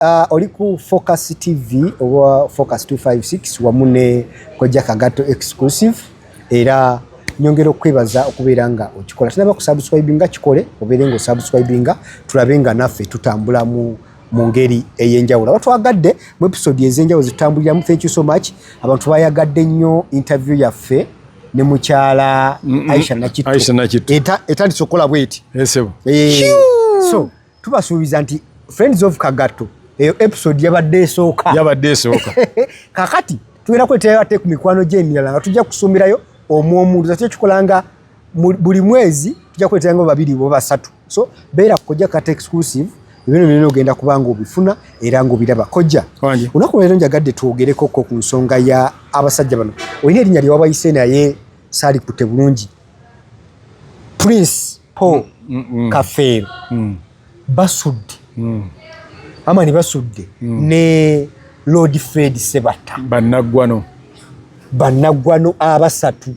Uh, oli ku Focus TV oba Focus 256 wamu ne Kojja Kagato exclusive era nyongera okwebaza okubeera nga okikola tunaba kusubscribinga kikole obeere nga osubscribinga tulabe nga naffe tutambula mu mu ngeri ey'enjawulo abatwagadde mu episode ez'enjawulo zitutambuliramu thank you so much abantu bayagadde nnyo interview yaffe ne mukyala Aisha Nakitto etandise okukola bweti eh, so tubasuubiza nti friends of kagatto eyo episode yabadde esooka yabadde esooka kakati tugenda kweterayo ate ku mikwano gyemirala nga tujja kusuumirayo omu omuntu zakyo kikola nga buli mwezi tujja kweterayo nga babiri bo basatu so beera kukojja kata exclusive ebino byona ogenda kuba nga obifuna era nga obiraba kojja olunaku leero njagadde twogereko ko ku nsonga ya abasajja bano olina erinnya lyewabayise naye saalikutte bulungi prince po mm, mm. kafeero mm. basudde amani basudde ne lord fred sebatta banaggwano banaggwano abasatu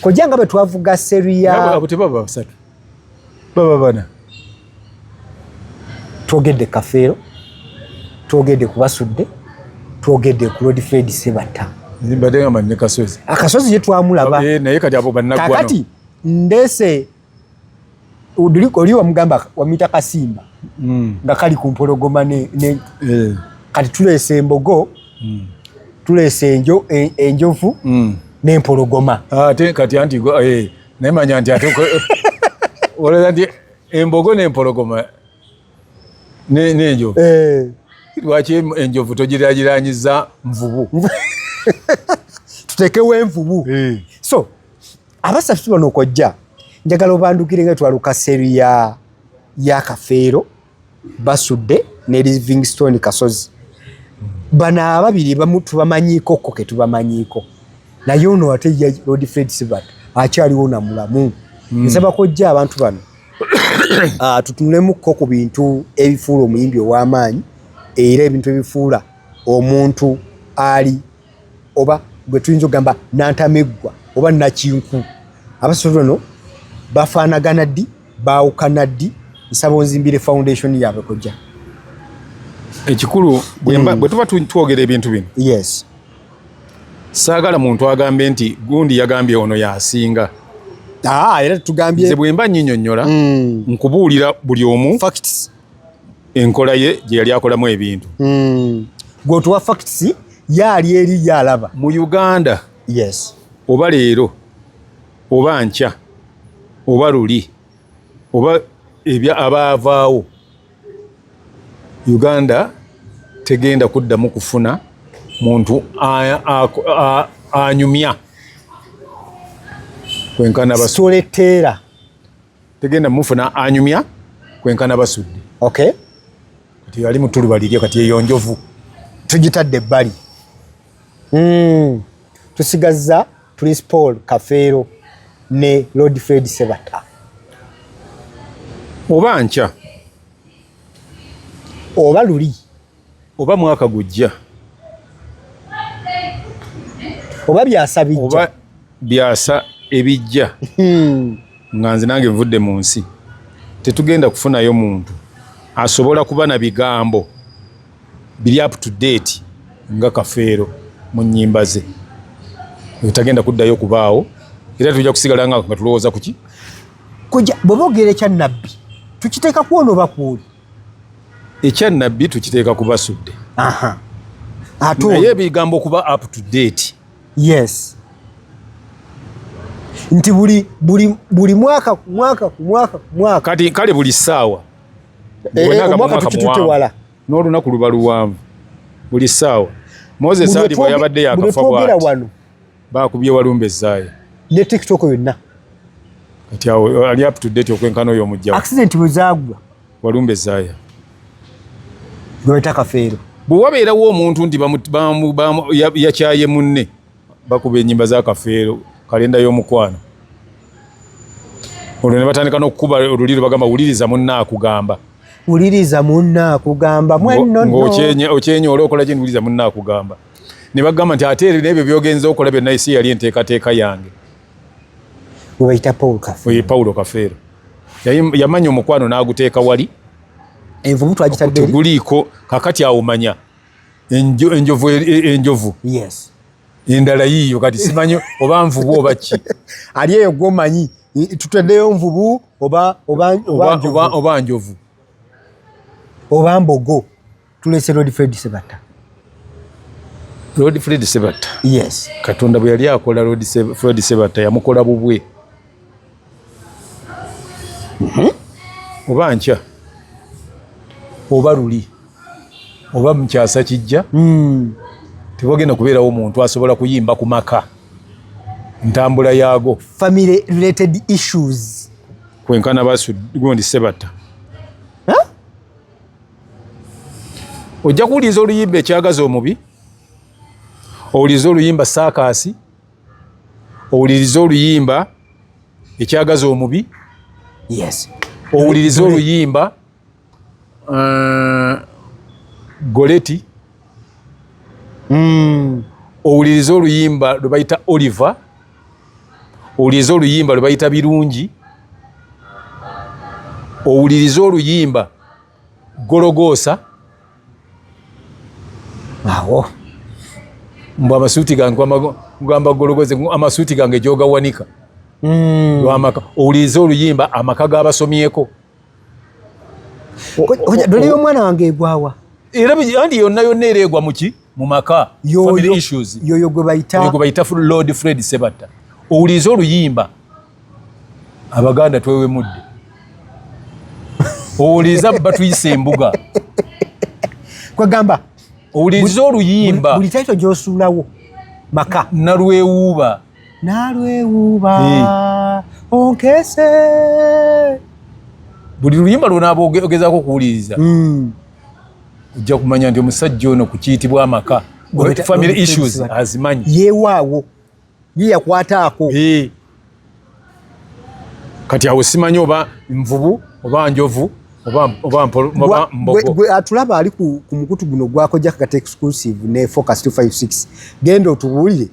kojja nga bwe twavuga seriyaabo tebaba basatu baba bana twogedde kafeero twogedde ku basudde twogedde ku lord fred sebatta akasozi ye twamulaba eh, kakati ndese oli wamugamba wamuyita kasimba mm. nga kali ku mpologoma ne, ne, yeah. kati tuleese embogo mm. tuleese enjo, en, enjovu mm. nempologoma ah, ate ah, kati anti eh, naye manya nti ate olowooza nti embogo nempologoma nenjovu eh. lwaki enjovu togiragiranyiza nvubu tutekewo envubu eh. so abasatu bano okojja njagala obandukire nga twaluka seri ya ya kafeero basudde ne livingstone kasozi bano ababiri bamu tubamanyiko ko ke tubamanyiko naye ono ate ya lord fred sibat akyaliwo na mulamu mm. nsaba kojja abantu bano uh, tutunulemu ko ku bintu ebifuula omuyimbi ow'amaanyi era ebintu ebifuula omuntu ali oba gwe tuyinza okugamba nantameggwa oba nakinku abasatu bano bafaanagana ddi baawukana ddi nsaba onzimbire foundation yaabwe kojja ekikulu bwe hmm. tuba twogera ebintu bino yes saagala muntu agambe nti gundi yagambye ono yasinga ah, era tugambyebwemba nyinyonyola hmm. nkubuulira buli omu enkola ye gye yali akolamu ebintu hmm. gwe otuwa facts yaali eri yalaba mu uganda yes oba leero oba nkya oba luli oba ebya abaavaawo uganda tegenda kuddamu kufuna muntu anyumya kwenkana basoleteera tegenda mufuna anyumya kwenkana basudde okay kati yali mutuluba liryo kati eyo njovu tugitadde ebbali mm. tusigazza prince paul kafeero ne lord fred sebata oba nkya oba luli oba mwaka gujja oba byasa bijja oba byasa ebijja hmm. nga nze nange nvudde mu nsi tetugenda kufunayo muntu asobola kuba na bigambo biri up to date nga kafeero mu nyimba ze etagenda kuddayo kubaawo era tujja kusigala nga tulowooza kuki bwebogera ekya nabbi tukiteeka kwona oba kwoli ekya nabbi tukiteeka ku basudde naye ebigambo okuba up to date yes nti buli buli buli mwaka ku mwaka ku mwaka ku mwaka kati kale buli ssaawa eh, eh, omwaka tukitute wala n'olunaku luba luwanvu buli ssaawa moses ali bwe yabadde yakafa bwati Bakubye walumbe zaaye. Ne TikTok yonna. Kati awo ali up to date okwenkana oyo omujja. Accident bwe zaagwa. Walumbe zaaye. Gweta kafeero. Bwe wabeerawo omuntu nti yakyaye munne bakuba ennyimba za kafeero kalenda y'omukwano. Olwo ne batandika n'okukuba oluliro bagamba wuliriza munne akugamba. Wuliriza munne akugamba. Mwenno no. Ng'okyenye okyenye olwokola kye wuliriza munne akugamba. ne bagamba nti ate n'ebyo byogenza okola byonna isi yali enteekateeka yange webayita paul kafeero ye paulo kafeero yamanya omukwano n'aguteeka wali envubu twagitadde guliiko kakati awo manya enjovu e, e, enjovu yes endala yiyo kati simanyi oba nvubu oba ki ali eyo gwomanyi tutaddeyo nvubu oba oba oba njovu oba mbogo tulese Lord Fred Sebatta. Lord Fred Sebatta. Yes. Katonda bwe yali akola Lord Fred Sebatta yamukola bubwe. Mhm. Oba nkya. Oba luli. Oba mkyasa kijja. Mhm. Tebogenda kubeerawo omuntu asobola kuyimba ku maka. Ntambula yaago. Family related issues. Kwenkana basu gundi Sebatta. ojja kuwuliriza oluyimba ekyagaza omubi owuliriza oluyimba saakaasi owuliriza oluyimba ekyagaza omubi yes owuliriza oluyimba uh, goleti mm. owuliriza oluyimba lwe bayita oliver owuliriza oluyimba lwe bayita birungi owuliriza oluyimba gologoosa awo mbu amasuuti gange gamba gologoosa amasuuti gange gyogawanika hmm. lwamaka owuliriza oluyimba amaka gabasomyeko dole yomwana wange egwawa era andi yonna yonna era egwa muki mumaka yoyo gwebayita lord fred sebatta owulize oluyimba abaganda twewemudde owuliza batuyisa embuga kwegamba owuliza oluyimba buli taito gyosuulawo maka nalwewuuba nalwewuuba eh. onkese buli luyimba lwona ogezako okuwuliriza hmm. ojja kumanya nti omusajja ono ku kiyitibwa amaka family issues azimanyi yewaawo ye yakwataako kati awo simanyi oba nvubu oba njovu gwe atulaba ali ku mukutu guno gwako jakakata exclusive ne focus 256 genda otubuulire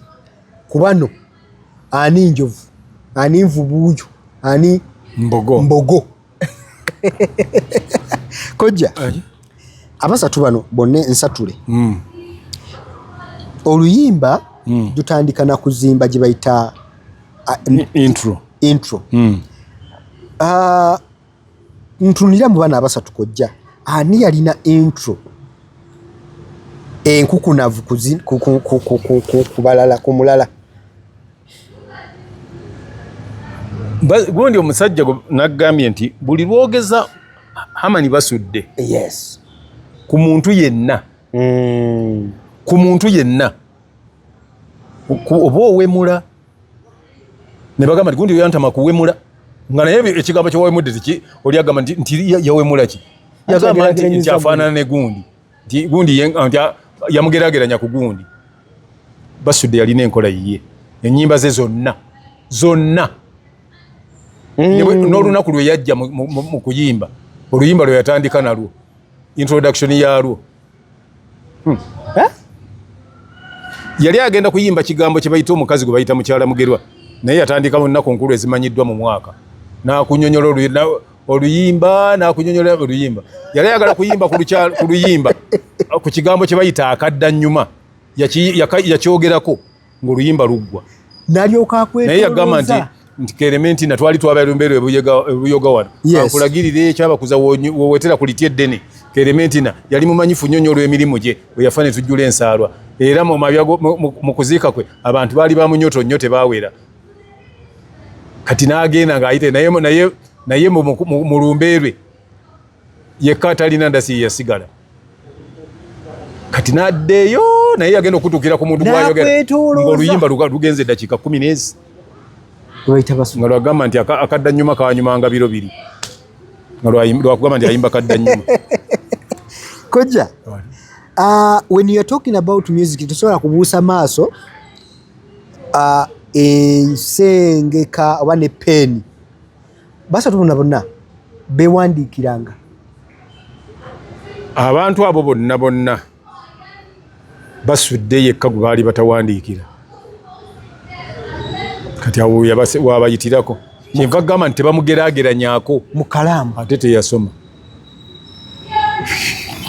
ku bano ani njovu ani nvubuujo ani mbogo, mbogo. kojja abasatu bano bonna ensatule mm. oluyimba mm. dutandika na kuzimba gye bayita intro intro mm. uh, ntunulira mu bana abasatu kojja ani yalina intro enkukunavu kubalala ku mulala gundi omusajja nagambye nti buli lwogeza hamani basudde yes. ku muntu yenna mm. ku muntu yenna oba owemula ne bagamba nti gundi oyantama kuwemula nga naye ekigambo kyewawemudde tiki oli agamba nti yawemula ki yagamba nti afaanana ne gundi nti gundi yamugerageranya ku gundi basudde yalina enkola yiye enyimba ze zonna zonna mm. n'olunaku lwe yajja mu kuyimba oluyimba lwe yatandika nalwo introduction yalwo hmm. eh? yali agenda kuyimba kigambo kye bayita omukazi gwe bayita mukyala mugerwa naye yatandika mu nnaku nkulu ezimanyiddwa mu mwaka nakunyonyola oluyimba nakunyonyola oluyimba yali ayagala kuyimba ku luyimba ku kigambo kye bayita akadda nyuma yakyogerako ngaoluyimba luggwa naye yagamba nti nti kerementi natwali twabalumbero ebuyoga wano akulagirire ekyabakuza wowetera ku liti eddene kerementina yali mumanyifu nnyo nnyo olw'emirimu gye bwe yafa ne tujjula ensaalwa era mu kuziika kwe abantu baali bamunyoto nnyo tebaawera kati nagenda ngaayite naye naye naye mu lumbe lwe yekka atalina ndasi yeyasigala kati naddeeyo naye yagenda okutuukira ku muntu gwayogeroluyimba lugenza eddakiika kumi nezi nga lwagamba nti akadda nyuma kawanyumanga biro biri nga lwakugamba nti ayimba kadda nyuma kojja uh, when youare talking about music tosobola kubuusa maaso ensengeka oba ne peeni basatu bona bonna bewandiikiranga abantu abo bonna bonna basudde yekka gwe baali batawandiikira kati awo wabayitirako kyenva gamba nti tebamugerageranyako mukalaamu ate teyasoma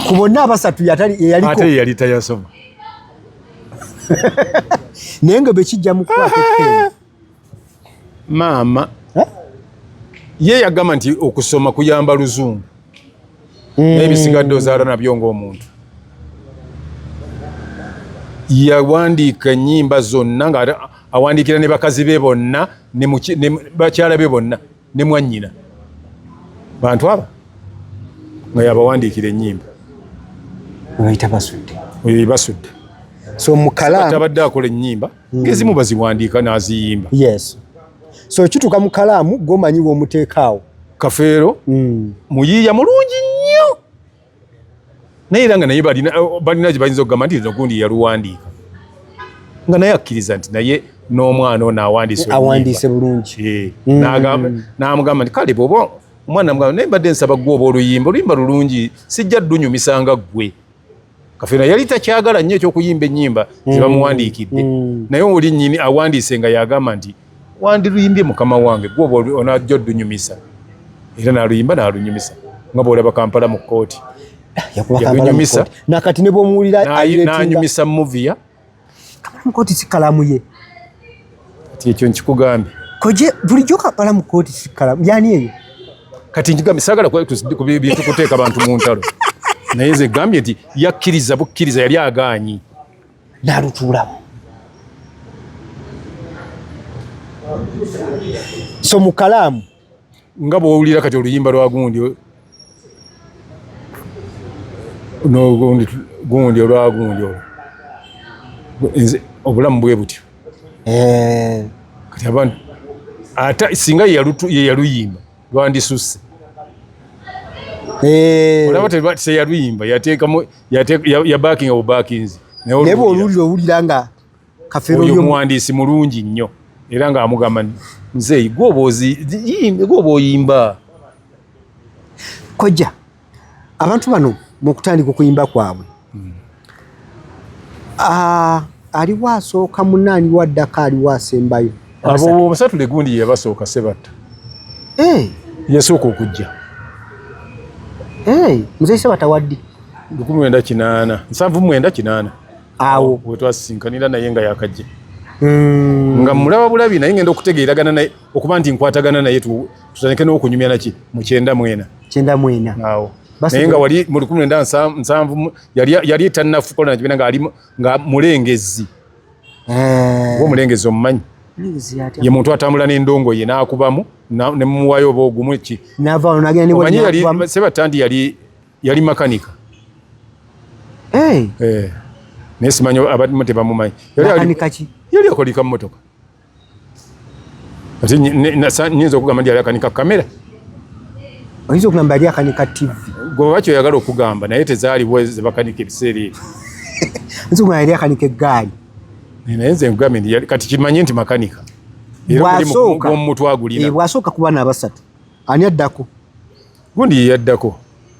ku bonna abasatu yali tayasoma naye nga bwekijja mukwata maama ye yagamba nti okusoma kuyamba luzungu hmm. naye bisigadde ozaala nabyo ngaomuntu yawandiika ennyimba zonna nga awandiikira ne bakazi be bonna bakyala be bonna ne mwannyina bantu aba nga yabawandiikira ennyimba oyita basudde oyo yebasudde so mukalaamu abadde akola ennyimba hmm. ngezimu baziwandiika n'aziyimba yes so kituuka mu kalaamu gwomanyi w'omuteekaawo kafeero hmm. muyiiya mulungi nnyo naye era nga naye balina balina gye bayinza okugamba nti lino gundi yaluwandiika nga naye akkiriza nti naye n'omwana ono awandiiseawandiise bulungi eh, mm. n'amugamba nti kale bwoba omwana mugamba naye mbadde nsaba gwe oba oluyimba oluyimba lulungi sijja ddunyumisanga ggwe kafeera yali takyagala nnyo ekyokuyimba ennyimba mm. zebamuwandiikidde mm. naye oli nyini awandiise nga yagamba nti wandiruyimbye mukama wange gwoba onajja odunyumisa era naluyimba nalunyumisa nga bwolaba kampala mu kkooti yakunyumisa nakati nebwomuwulirananyumisa muviya kampala mu kkooti sikalamu ye kati ekyo nkikugambye koje bulijjo kampala mu kkooti sikalamu yani eyo kati nkigambye sagala kubyetukuteeka bantu mu ntalo naye nze gambye nti yakkiriza bukkiriza yali agaanyi n'alutuulamu so mu kalaamu nga bwowulira kati oluyimba lwa gundi nogundi gundi olwa gundi olwo nze obulamu bwe butyo eh. kati abantu ate singa yeyaluyimba lwandisusse eh. olaba teyaluyimba yateekamu yabakinga bubakinzi naye bwolulira owulira nga kaferoyo muwandiisi mulungi nnyo era ng'amugamba nzeeyi gwoba oyimba kojja abantu bano mukutandika okuyimba kwabwe hmm. ah, aliwo asooka munaani waddaka aliwo asembayo abo omusatu legundi yabasooka sebatta eh. yasooka okujja eh, mzee sebatta waddi lukumi mwenda kinaana nsanvu mwenda kinaana awo wetwasisinkanira naye nga yakajja hmm. nga mulaba bulabi naye ngenda okutegeeragana naye okuba nti nkwatagana naye tutandike n'okunyumya naki mu kyenda mwena kyenda mwena awo naye nga wali mu lukumi mwenda nsanvu yali tannafukola nakibina nga mulengezi eh. gwe omulengezi omumanyi ye muntu atambula n'endongo ye n'akubamu ne mumuwayo oba ogumu ki sebatandi yali yali makanika eh. naye simanyi abamu tebamumanyi yali akolika mumotoka Ati nyinza okugamba ndi alakanika kamera. Oyinza okugamba ali akanika TV. Gwe wakyo oyagala okugamba naye tezaaliwo zebakanika ebiseera ebyo. Oyinza okugamba ali akanika eggaali. Naye nze nkugambye nti kati kimanye nti makanika. Bwasooka omutwe agulina. Eh, bwasooka ku bana abasatu. Ani addako? Gundi ye yaddako.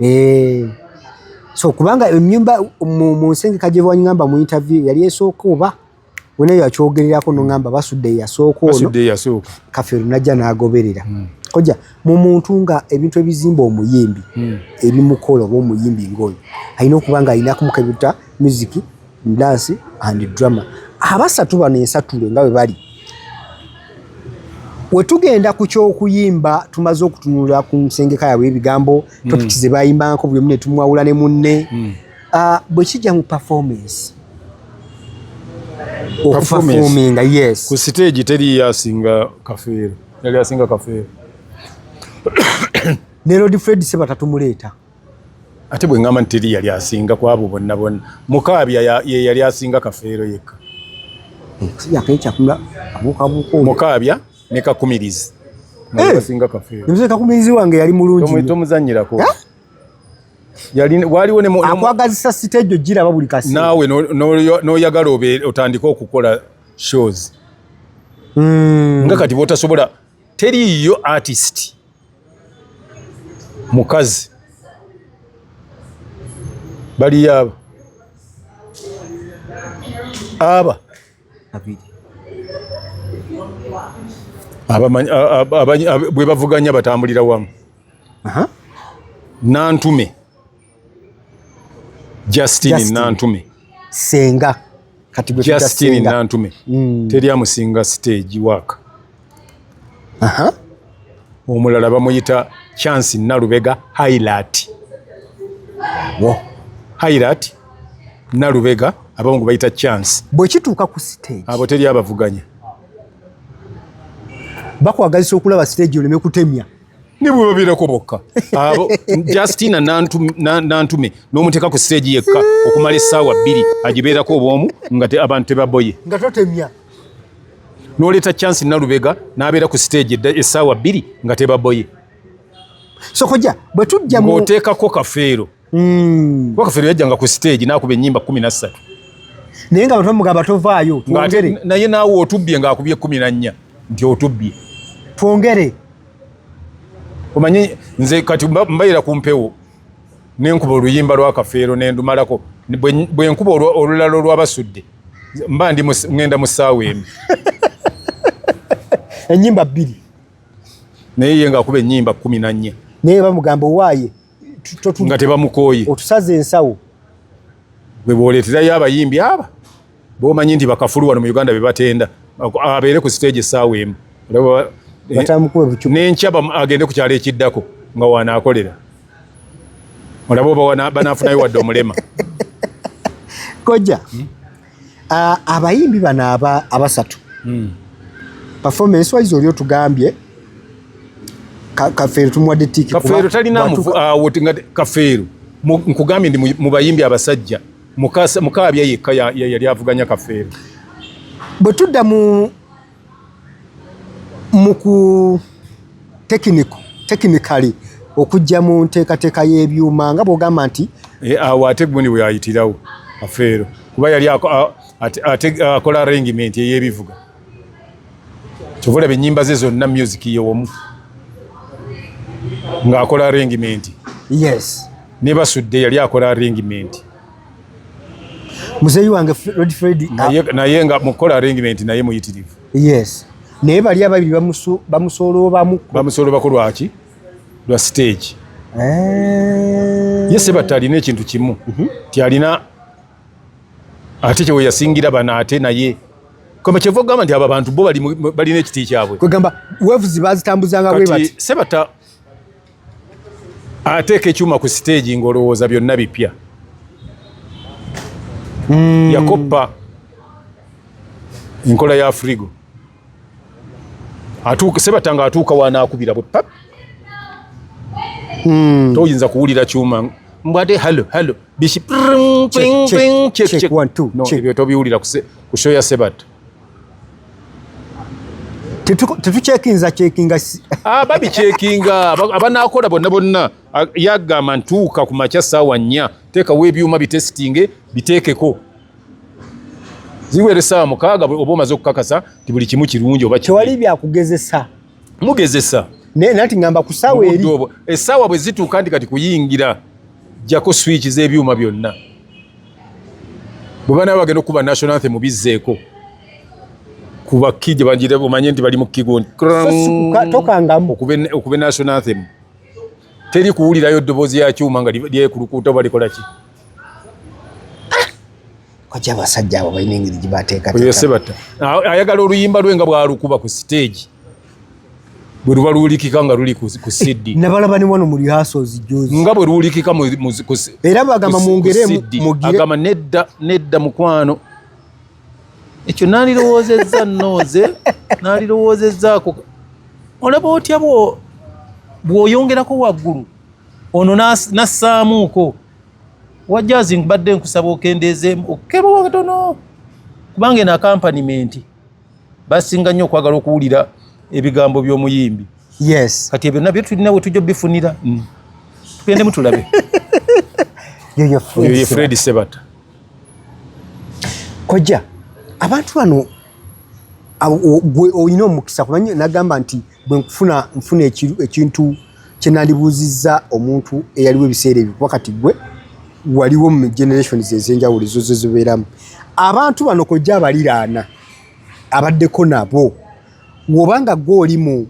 Eh. So kubanga enyumba mu nsengeka gye wanyamba mu interview yali esooka oba wena yakyogererako no ngamba basudde yasooka ono. Basudde yasooka. Kafiru najja n'agoberera. Hmm. Koja mu muntu nga ebintu ebizimba omuyimbi hmm. ebimukolo oba omuyimbi ngoyo alina okuba nga alina kumukebuta muziki dance and drama abasatu bano ensatule nga bwe bali wetugenda ku kyokuyimba tumaze okutunula ku nsengeka yabwe ebigambo mm. topics ze bayimbako buli omu ne tumwawula ne munne mm. ah, bwe kijja mu performance okufafominga yes ku siteegi teri yasinga kafeero yali asinga kafeero ne lord fred sebatatumuleeta ate bwe ŋŋamba nti teri yali asinga ku abo bonna bonna mukaabya ye yali asinga kafeero yekka mukaabya ne kakumirizi kakumirizi wange yali mulungitomuzanyirako akwagazisa siteejo giraba buli kasi naawe n'oyagala otandike okukola shows hmm. nga kati bwotasobola teriiyo artist mukazi baliyo aba aba bwe bavuganya batambulira wamu nantume Justine Nantume senga kati gwe Justine Nantume mm. teri amusinga stage work aha omulala bamuyita Chance Nalubega highlight wo highlight Nalubega abamu gwe bayita Chance bwe kituuka ku stage abo teri abavuganya bakwagazisa okulaba stage oleme kutemya nebwebabeerako bokka abo justina nantume n'omuteeka ku siteegi yekka okumala essaawa bbiri agibeerako obwomu nga abantu tebaboye nga totemya n'oleeta chansi nalubega n'abeera ku siteegi essaawa bbiri nga tebaboye sokoja bwe tujja ng'oteekako kafeero mm. kuba kafeero yajjanga ku stage nakuba enyimba kumi nassatu naye nga batomugamba tovaayo twongere naye naawe otubbye ngaakubye kumi nannya nti otubbye twongere omanyi nze kati mbayira ku mpewo nenkuba oluyimba lwa kafeero nendumalako bwenkuba olulala olwabasudde mba ndi ngenda mu ssaawa emu enyimba bbiri naye ye ngaakuba enyimba kumi nannya naye bamugamba owaaye nga tebamukooye otusaze ensawo gwe bwoleeterayo abayimbi aba bomanyi nti bakafulu wano mu uganda bebatenda abeere ku siteegi essaawa emu eh, nenkya agende ku kyalo ekiddako nga wanaakolera olaba oba banafunayo wadde omulema kojja hmm? abayimbi bano abasatu hmm. performance wise oli otugambye kafeero tumuwadde tiki kafeero talina uh, kafeero nkugambye ndi mu bayimbi abasajja mukaabya yekka yali avuganya kafeero bwe tudda mu mu ku tekiniko tekinikali okujja mu nteekateeka y'ebyuma nga bw'ogamba nti eh, awo ate gundi bwe yayitirawo afeero kuba yali akola arrangement ey'ebivuga kyova olaba ennyimba ze zonna music yewomu ng'akola arrangement yes ne basudde yali akola arrangement muzeeyi wange Red Fred naye ah. naye nga mukola arrangement naye muyitirivu yes naye bali ababiri bamusu bamusoloobamu bamusoloobaku lwaki lwa stage eh yese batalina ekintu kimu mm -hmm. ti alina ate kyewe yasingira bana ate naye kama kyevo gamba nti aba bantu bo bali balina ekiti kyabwe kwegamba waves bazitambuzanga bwe bati sebata ateeka ekyuma ku siteegi ng'olowooza byonna bipya mm. yakoppa enkola ya frigo atuuka sebatanga atuuka wanaakubira bwe pap mm. toyinza kuwulira kyuma mbwate halo halo biki ebyo tobiwulira ku show ya sebata tetukyekinza kyekinga ah, babi kyekinga abanakola bonna bonna ah, yagamba ntuuka ku makya saawa nnya teekawo ebyuma bitesitinge biteekeko ziwere saawa mukaaga oba omaze okukakasa ti buli kimu kirungi oba tewali byakugezesa mugezesa naye nati ngamba ku saawa eri esaawa bwe zituuka nti kati kuyingira jjako swiiki z'ebyuma byonna bwe banaaba bagenda okukuba national anthem bizzeeko kuba ki gye banjira omanye nti bali mu kigoni okube national anthem teri kuwulirayo ddoboozi ya kyuma nga lyekulukuuta oba likola ki kwaki abasajja abo balina engeri gyebateekateeka ayagala oluyimba lwe nga bwalukuba ku siteegi bwe luba luwulikika nga luli ku CD nabalaba ne wano mu rehearsals jozi nga bwe luwulikika mu ku era bagamba mungere mugire agamba nedda nedda mukwano ekyo nalirowoozezza nooze nalirowoozezzaako olaba otya bwo bw'oyongerako waggulu ono nassaamuuko wajazi mbadde nkusaba okendeezeemu okukebwa katono kubanga eno akampanimenti basinga nnyo okwagala okuwulira ebigambo by'omuyimbi yes kati ebyo nabyo tulina we tujja obifunira mm. tugendemu tulabe yoyo fred sebata kojja abantu bano olina omukisa kubanya nagamba nti bwe nkufuna nfuna ekintu kye nandibuuzizza omuntu eyaliwo ebiseera ebyo kuba kati gwe waliwo mu generations ez'enjawulo ezo ze zibeeramu abantu bano kojja abaliraana abaddeko nabo woba nga gwe oli mu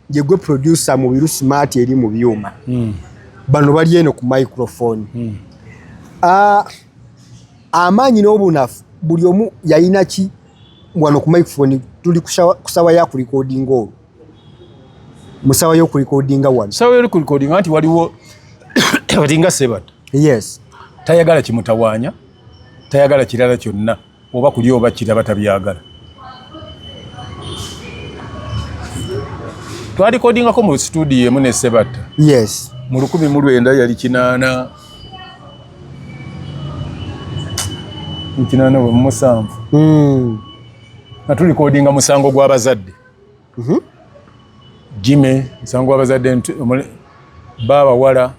gye gwe producer mu biru smart eri mu byuma hmm. bano bali eno ku microphone hmm. ah, amaanyi n'obunafu buli omu yayina ki wano ku microphone tuli kusawa ya kulikodinga olwo musawa yo kulikodinga wano sawa yo kulikodinga nti waliwo batinga sebat yes tayagala kimutawanya tayagala kirala kyonna oba kuli oba kiraba tabyagala twalikodingako mu studio emu ne sebatta yes mu lukumi mu lwenda yali kinaana ekinana bwe mumusanvu hmm. nga tulikodinga musango gw'abazadde mhm. jime musango gw'abazadde baabawala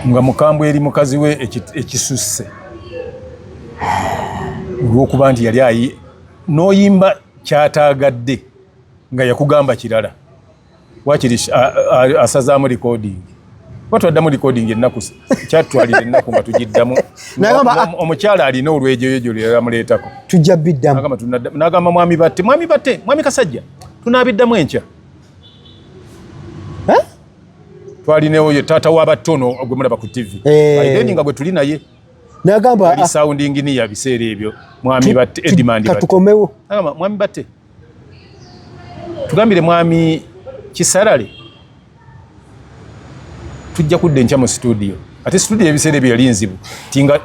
nga mukambwe eri mukazi we ekisusse olw'okuba nti yali ayi n'oyimba kyataagadde nga yakugamba kirala wakiri asazaamu recording kuba twaddamu recording ennaku kyatwalira ennaku nga tugiddamu ah, omukyala alina olwejoyojo lyeramuleetako tujja biddamu nagamba mwami batte mwami batte mwami kasajja tunabiddamu enkya twalinewo ye taata wabatte ono gwemulaba ku tv eh. then nga gwe tuli naye nagamba ah. sounding ni ya biseera ebyo mwami batte edimandi katukomewo mwami batte tugambire mwami kisarale tujja kudda enkya mu situdiyo ate situdiyo ebiseera ebyo yali nzibu tinga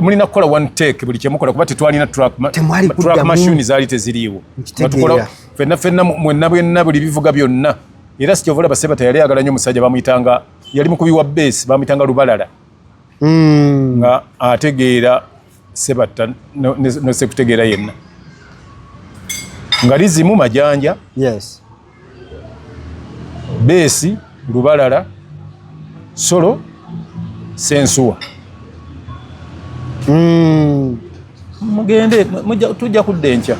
mulina kukola one take buli kyemukola kuba tetwalina track machine zaali teziriiwo tukola fenna fenna mwenna bwenna buli bivuga byonna era sikyovola baseba teyali agala nyo omusajja bamuyitanga yali mukubi wa base bamuyitanga lubalala hmm. nga ategeera sebatta nosekutegeera yenna nga lizimu majanja yes. beesi lubalala solo sensuwa mm. mugende tujja kudda enkya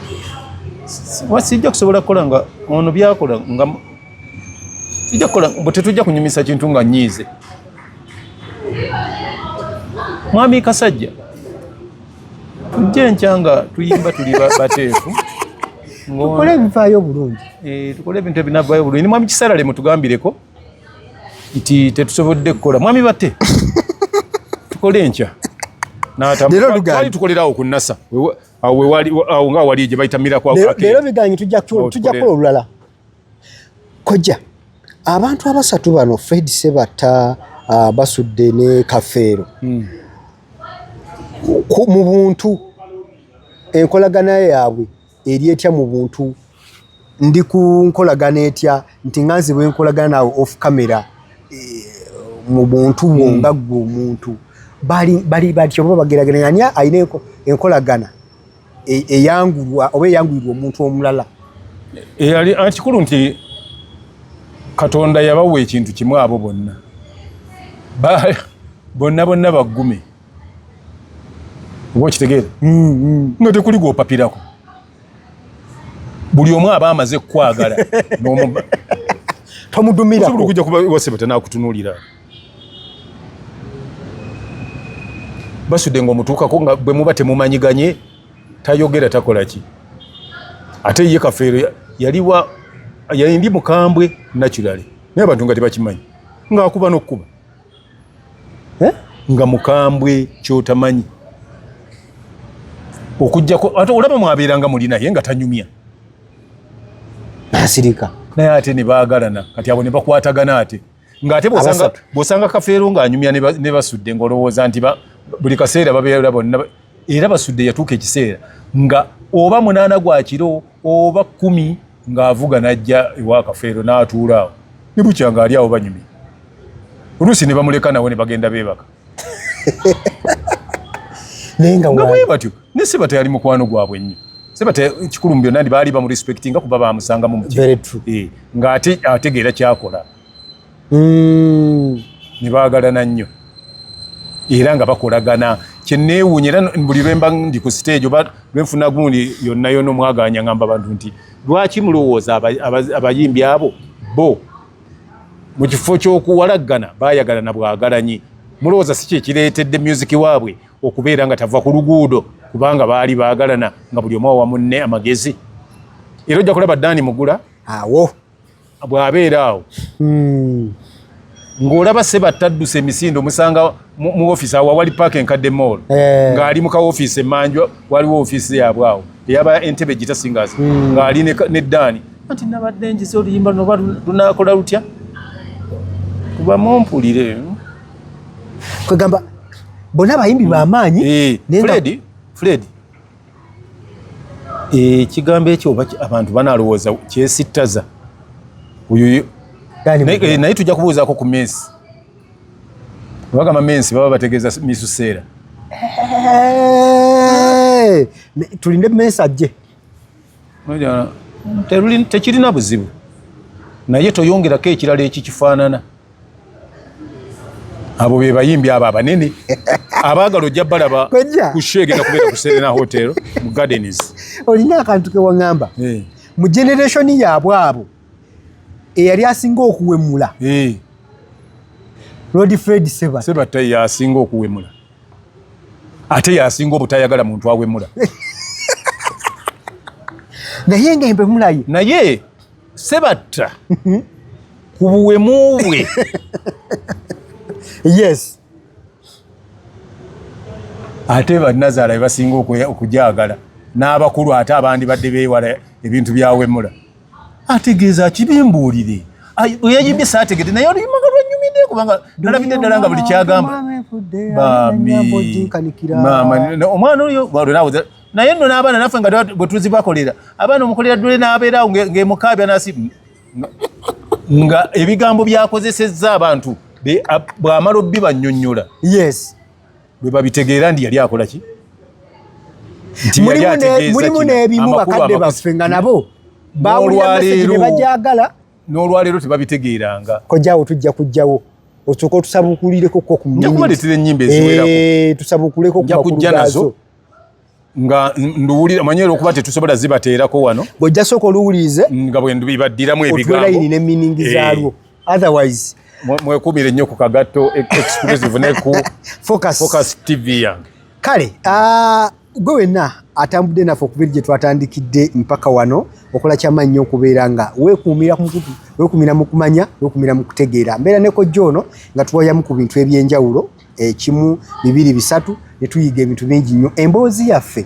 sijja kusobola kukola nga ono byakola nga tetujja kunyumisa kintu nga nyiize Mwami Kasajja, tujje nkya nga tuyimba tuli bateefu tukole ebivaayo obulungi eh, tukole ebintu ebinavaayo obulungi ni mwami kisarale mutugambireko nti tetusobodde kukola mwami bate tukole enkya twali tukolerawo ku nasa awo nga wali gye bayita mirakwaleero biganyi tujja kukola olulala kojja abantu abasatu bano fred sebatta uh, basudde ne kafeero mm. mu buntu enkolagana yaabwe eri etya mu buntu ndi ku nkolagana etya nti nga nzibwa enkolagana naawe off camera eh, mu buntu bwo hmm. nga ggwe omuntu bali batyo oba bagerageranya ani alina enkolagana e, eyangulwa oba eyangulirwa omuntu omulala eyali e, kikulu nti katonda yabawa ekintu kimu abo bonna bonna bonna baggume oba okitegeera mm, mm. nga tekuli gwopapirako buli omu aba amaze kukwagala tomudumirakuja kuba wasebe tenakutunulira basude nga omutuukako nga bwe muba temumanyiganye tayogera takola ki ate ye kafeero yaliwa yali ndi mukambwe naturally naye abantu nga tebakimanyi ngaakuba n'okukuba eh? nga mukambwe kyotamanyi okujjako ate olaba mwabeeranga muli naye nga tanyumya nasirika naye ate ne baagalana kati abo ne bakwatagana ate ng'ate bw'osanga kafeero ng'anyumya ne basudde ng'olowooza nti buli kaseera babeera bonna era basudde yatuuka ekiseera nga oba munaana gwa kiro oba kkumi ng'avuga n'ajja ewa kafeero n'atuula awo ne bukya ng'ali awo banyumya oluusi ne bamuleka nawe ne bagenda beebaka naye nga bwe batyo ne sebata yali mukwano gwabwe nnyo sebata ekikulu mu byonna ndi baali bamurespectinga kuba bamusanga mu mutima eh, nga ate ategeera kyakola hmm. ne baagalana nnyo era nga bakolagana kyenneewuunya era buli lwemba ndi ku siteegi oba lwenfuna gundi yonna yona omwaganya ngamba bantu nti lwaki mulowooza abayimbi abo bo mu kifo ky'okuwalaggana baayagalana bwagalanyi mulowooza si kyekireetedde myuziki waabwe okubeera nga tava ku luguudo kubanga baali baagalana nga buli omu awa munne amagezi era ojja kulaba daani mugula awo bw'abeera awo hmm. ng'olaba sebattadduse emisinde omusanga mu office awo wali park enkadde mall eh. ng'ali mu ka office emanjwa waliwo office yabwe awo eyaba entebe gita singers hmm. ng'ali ne dani anti nabadde njize oluyimba noba lunakola lutya kuba mumpulire kwegamba bona abayimbi bamaanyi eh, fred fred ekigambo eh, ekyo oba abantu banalowooza kyesittaza oyo naye tujja kubuuzaako ku mesi Wagamba mensi baba bategeza misu sera. Hey, tulinde mensi ajje. Moja teruli tekirina buzibu. Naye toyongera ke ekirala eki kifanana. Abo be bayimbi aba banene. Abagalo jabbala ba kushege na kubera kuserena hotel mu gardens. Olina akantu ke wangamba. Hey. Eh. Mu generation ya bwabo. eyali asinga okuwemula eh. Lord Fred Sebatta Sebatta yasinga okuwemula ate yasinga obutayagala muntu awemula naye nga embe mulaye naye Sebatta mhm. ku buwemu bwe yes ate banazaala bebasinga okujagala n'abakulu ate abandi badde bewala ebintu byawemula ategeeza kibimbuulire eyayimbye saategede naye oluyimba nga lwanyumidde kubanga nalabidde ddala nga buli kyagamba omwana oyo naye nno n'abaana naffe nga bwetuzibakolera abaana omukolera ddule n'abeerawo ng'emukaabya nasi nga ebigambo byakozesezza abantu bwamala obbi banyonyola yes bwe babitegeera ndi yali akola ki mulimu n'ebimu bakadde baffe nga nabo bawulirabajagala n'olwaleero tebabitegeeranga kojaawo tujja kujjawo osooka otusabukulireko ko kumaletera enyimba eziwerako eh, tusabukuleko kujja nazo nga nduwulira manyi era okuba tetusobola zibateerako wano bwojja sooka oluwulirize nga bwendubibaddiramu ebigambolayini ne miningi eh. zaalwo otherwise mwekumire nnyo ku kagatto e- exclusive ne ku focus tv yange kale ah, gwe wenna atambudde naffe okubeera gye twatandikidde mpaka wano okola kyama nnyo okubeera nga wekuumira ku mukutu wekuumira mu kumanya wekuumira mu kutegeera mbeera nekojja ono nga tuwayamu ku bintu eby'enjawulo ekimu bibiri bisatu ne tuyiga ebintu bingi nnyo emboozi yaffe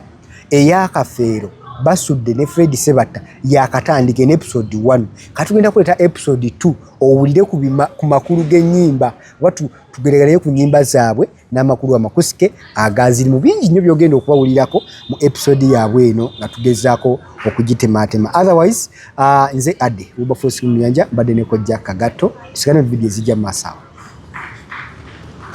eyakafeero basudde ne fred sebatta yakatandika en episode 1 katugenda kuleeta episode 2 owulire ku makulu g'ennyimba oba tugereganayo ku nnyimba zaabwe n'amakulu amakusike agaziri mu bingi nnyo byogenda okubawulirako mu episode yaabwe eno nga tugezaako okugitemaatema otherwise uh, nze ade ubafosi mumyanja mbadde nekojja kagatto tusigane mu vidiyo ezijja mu maaso awo